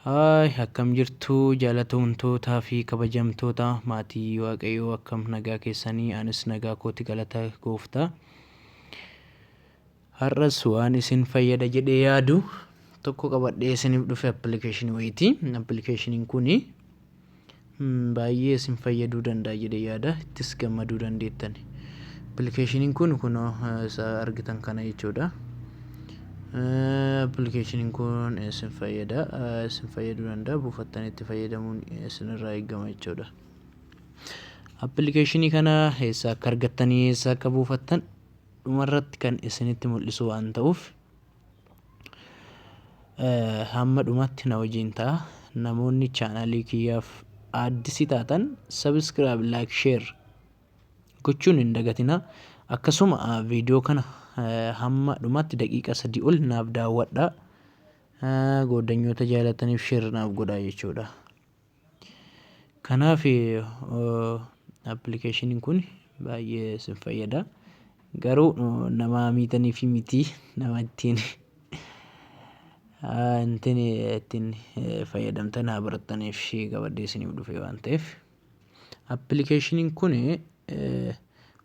Hi akkam jirtu jaalatamtoota fi kabajamtoota maatii waaqayyoo akkam nagaa keessanii anis nagaa kooti galata gooftaa har'as waan isin fayyada jedhee yaadu tokko qabadhee isiniif dhufe appilikeeshinii wayiiti appilikeeshiniin kuni Baay'ee isin fayyaduu danda'a jedhee yaada. Ittis gammaduu dandeettani. Appilikeeshiniin kun kunoo isa argitan kana jechuudha. Appilikeeshiniin kun isin fayyada. Isin fayyaduu danda'a. Buufattanii itti fayyadamuun isinirraa eegama jechuudha. Appilikeeshinii kana eessaa akka argattanii eessaa akka buufattan dhumarratti kan isinitti mul'isu waan ta'uuf Hamma dhumaatti na wajjin ta'a. Namoonni chaanaalii kiyyaaf aaddisi taatan sabiskiraayib laayik sheer gochuun hin dagatina. Akkasuma viidiyoo kana hamma dhumaatti daqiiqa sadii ol naaf daawwadha. Gooddanyoota jaalataniif sheer naaf godhaa jechuudha. Kanaaf appilikeeshiniin kun baay'ee isin fayyada. Garuu nama miitaniif miti nama ittiin ittiin ittiin fayyadamtan haa barattaniif qabadhee isiniif dhufe waan ta'eef. Appilikeeshiniin kun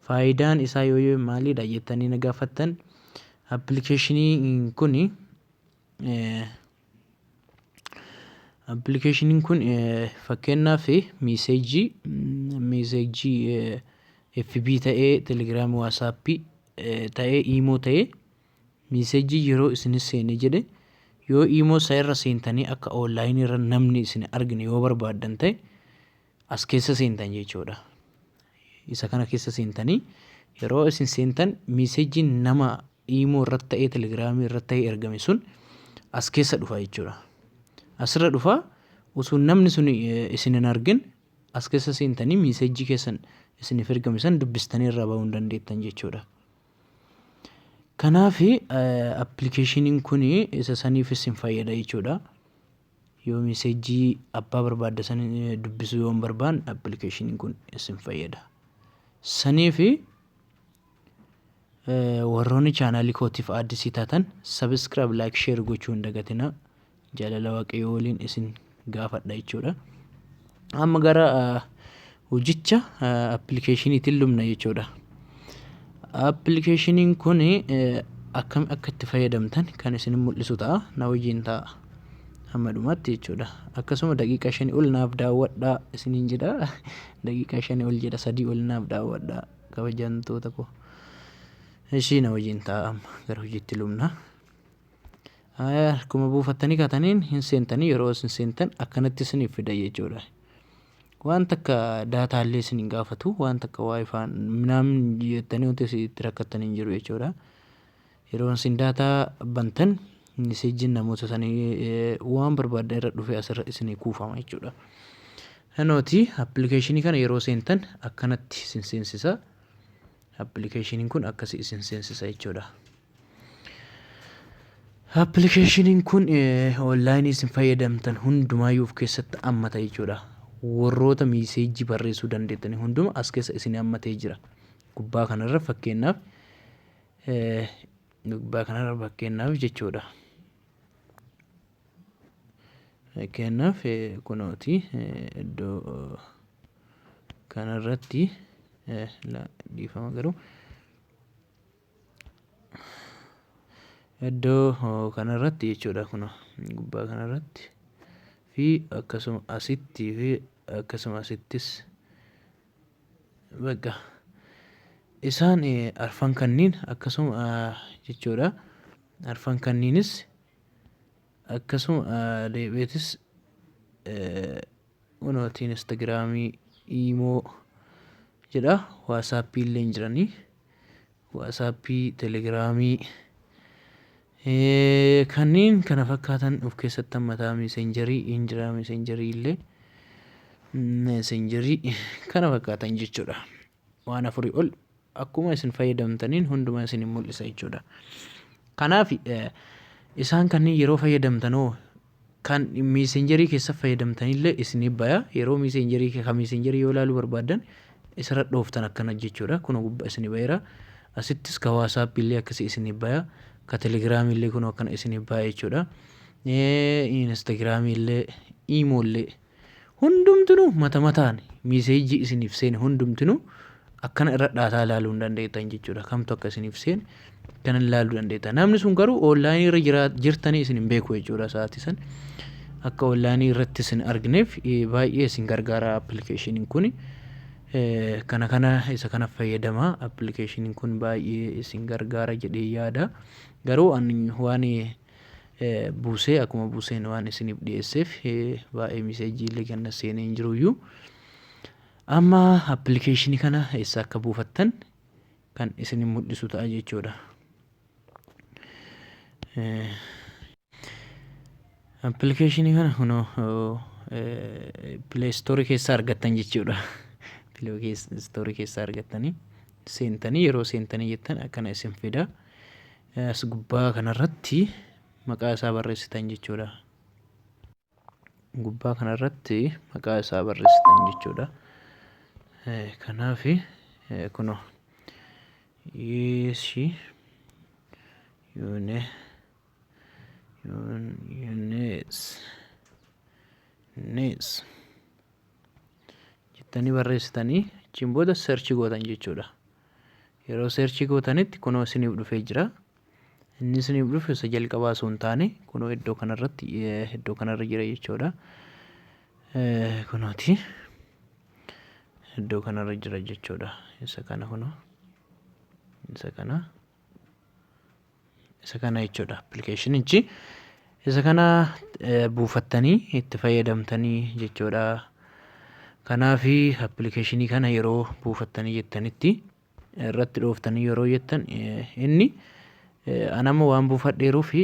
faayidaan isaa yoo maalidha jettanii na gaafattan appilikeeshinii kuni Appilikeeshiniin kun fakkeenyaaf miiseejii miiseejii FB ta'ee telegiraamii waasaappii ta'ee iimoo ta'ee miiseejii yeroo isin seene jedhe yoo iimoo isaa irra seentanii akka oonlaayinii irra namni isin argine yoo barbaaddan ta'e as keessa seentan jechuudha. Isa kana keessa seentanii yeroo isin seentan miiseejiin nama iimoo irratti ta'ee telegiraamii irratti ta'ee ergame sun as keessa dhufa jechuudha. Asirra dhufa osoo namni sun isin hin argin as keessa seentanii miiseejii keessan isiniif ergame san dubbistanii irraa bahuu hin dandeettan jechuudha. Kanaaf appilikeeshiniin kun isa saniif isin fayyada jechuudha. Yoo messejjii abbaa barbaadda san dubbisuu yoo hin barbaanne appilikeeshiniin kun isin fayyada. Sanii fi warroonni chaanaalii kootiif addisii taatan sabiskiraayib laayik sheer gochuu hin dagatinaa. Jaalala waaqayyoo waliin isin gaafadha jechuudha. Amma gara hojicha appilikeeshiniitiin lubna jechuudha. Appilikeeshiniin kun akkam akka itti fayyadamtan kan isin mul'isu ta'a. Na wajjin ta'a. Amma dhumaatti jechuudha. Akkasuma daqiiqaa shanii ol naaf daawwadhaa isiniin jedha. Daqiiqaa shanii ol jedha sadii ol naaf daawwadhaa kabajamtoota koo. Ishii na wajjin ta'a amma gara hojiitti lubna. Akkuma buufattanii kaataniin hin seentanii yeroo isin seentan akkanatti isiniif fida jechuudha. Waan takka daataa illee isin hin gaafatu waan takka waayifaan minaamin jettanii wanti isin itti rakkattan hin jiru jechuudha. Yeroo isin daataa bantan miseejjiin namoota sanii waan barbaaddan irra dhufee asirra isinii kuufama jechuudha. Hanooti appilikeeshinii kana yeroo seentan akkanatti isin seensisa. Appilikeeshiniin kun akkasii isin seensisa jechuudha. Appilikeeshiniin kun onlaayinii isin fayyadamtan hundumaayyuu of keessatti hammata jechuudha. Warroota miiseejii barreessuu dandeettanii hunduma as keessa isin hammatee jira. Gubbaa kanarra fakkeenyaaf gubbaa kanarra fakkeenyaaf jechuudha. Fakkeenyaaf kunooti iddoo kanarratti dhiifama garuu Iddoo kana irratti jechuudha kunoo gubbaa kana irratti fi akkasuma asitti fi akkasuma asittis bakka isaan arfan kanniin akkasuma jechuudha arfan kanniinis akkasuma deebi'eetis kunooti instagiraamii iimoo jedha waasaappii illee hin jiranii. waasaappii, telegiraamii kanneen kana fakkaatan of keessatti hammataa meeseenjarii hin jira meeseenjarii illee meeseenjarii kana fakkaatan jechuudha. Waan afurii ol akkuma isin fayyadamtaniin hundumaa isin mul'isa jechuudha. Kanaaf isaan kanneen yeroo fayyadamtanoo Kan messenger kessa fayyadamtanille isinif baya yeroo messenger ka messenger yoo ilaalu barbaadan isira dhooftan akkana jechuudha kuno gubba isini bayera asittis ka whatsapp illee akkasi isinif baya ka telegram illee kuno akkana isinif baya jechuudha instagram illee imo illee Hundumtinuu mata mataan message isiniif seene hundumtinuu akkana irra dhaataa ilaaluu hin dandeettan jechuudha. Kamtu akka isiniif seene kana ilaaluu dandeettan. Namni sun garuu online irra jira jirtanii isin hin beeku jechuudha sa'aatii san. Akka online irratti isin argineef baay'ee isin gargaara application kun. Kana kana isa kana fayyadama application kun baay'ee isin gargaara jedhee yaada. Garuu ani waan buusee akkuma buuseen waan isiniif dhiyeesseef baay'ee miseejii illee ganna seenee hin jiruyyuu amma appilikeeshinii kana eessa akka buufattan kan isin mul'isu ta'a jechuudha. Appilikeeshinii kana kunoo pileestoorii keessaa argattan jechuudha. Pileestoorii keessaa argattanii seentanii yeroo seentanii jettan akkana isin fida. As gubbaa kanarratti maqaa isaa barreessitan jechuudha. Gubbaa kanarratti maqaa isaa barreessitan jechuudha. Kanaaf kunoo yeeshi yuune yuunees nees jettanii barreessitanii achiin booda search gootan jechuudha. Yeroo search gootanitti kunoo isiniif dhufee jira. Inni isiniif dhufe isa jalqabaa osoo hin taane kunoo iddoo kanarratti iddoo kanarra jira jechuudha. Kunooti iddoo kanarra jira jechuudha. Isa kana kunoo isa kana isa kana jechuudha appilikeeshinichi isa kana buufattanii itti fayyadamtanii jechuudha kanaaf appilikeeshinii kana yeroo buufattanii jettanitti irratti dhooftanii yeroo jettan inni anamma waan buufadheeruu fi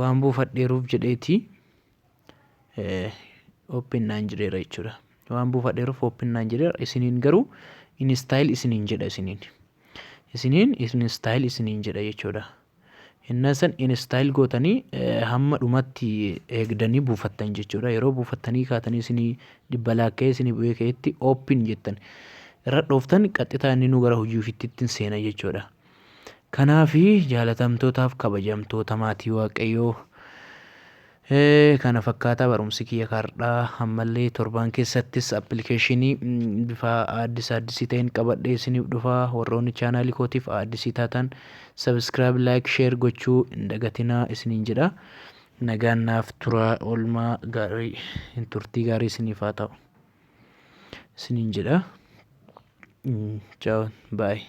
waan buufadheeruuf jedheetii open naan jedheera jechuudha waan buufadheeruuf open naan jedheera isiniin garuu install isiniin jedha isiniin isiniin install isiniin jedha jechuudha innaa san install gootanii hamma dhumatti eegdanii buufattan jechuudha yeroo buufattanii kaatanii isinii dhibba laakkee isinii bu'ee ka'etti open jettan irra dhooftan qaxxitaa inni nu gara hojii ofiitti ittiin seena jechuudha. Kanaafi jaalatamtootaaf kabajamtoota maatii waaqayyoo kana fakkaata barumsi kiyya kaardhaa ammallee torbaan keessattis appilikeeshinii bifa aaddis aaddisii ta'een qabadhee isiniif dhufaa warroonni chaanaalii kootiif aaddisii taatan sabiskiraayib laayik sheer gochuu hin dagatinaa isiniin jedha nagaan naaf turaa oolmaa gaarii hin turtii gaarii isiniif haa ta'u isiniin jedha chaaw baay'ee